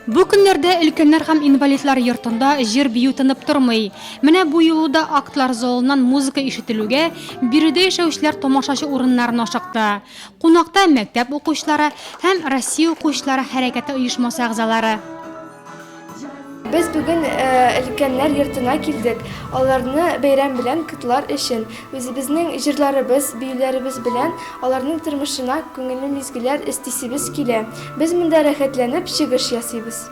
Бу көннәрдә өлкәннәр һәм инвалидлар йортында җыр-бию тынып тормый. Менә бу юлы да актлар залыннан музыка ишетелүгә, биредә яшәүчеләр тамашачы урыннарын ашыкты. Кунакта мәктәп укучылары һәм Россия укучылары хәрәкәте оешмасы әгъзалары. Без бүген өлкәннәр йортына килдек, аларны бәйрәм белән котлар өчен. Үзебезнең җырларыбыз, биюләребез белән аларның тормышына күңелле мизгелләр өстисебез килә. Без монда рәхәтләнеп чыгыш ясыйбыз.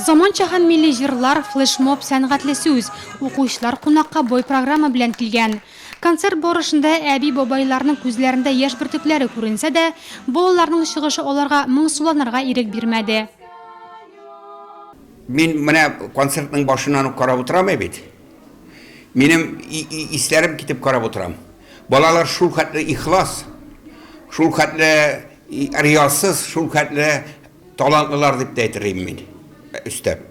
Заманча һәм милли җырлар, флешмоб, сәнгатьле сүз. Укучылар кунакка бай программа белән килгән. Концерт барышында әби-бабайларның күзләрендә яшь бөртекләре күренсә дә, балаларның чыгышы аларга моңсуланырга ирек бирмәде. Мин менә концертның башыннан ук карап утырам бит. Минем исләрем китеп карап утырам. Балалар шулхәтле ихлас, шулхәтле риясыз, шулхәтле Талантлылар дип тә әйтер идем мин, өстәп.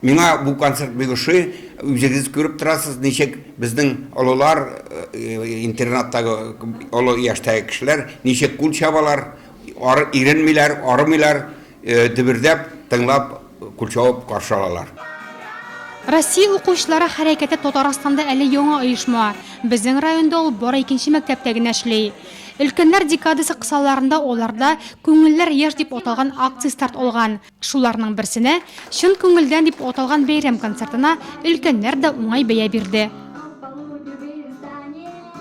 Миңа бу концерт бик ошый. Үзегез күреп торасыз, ничек безнең олылар, интернаттагы олы яшьтәге кешеләр ничек кул чабалар, иренмиләр, арымыйлар, дөбердәп, тыңлап, кул чабып каршы алалар. Россия укучылары хәрәкәте Татарстанда әле яңа оешма. Безнең районда ул бары икенче мәктәптә генә эшли. Өлкәннәр декадасы кысаларында аларда Күңелләр яшь дип аталган акция старт алган. Шуларның берсенә, Чын күңелдән дип аталган бәйрәм концертына өлкәннәр дә уңай бәя бирде.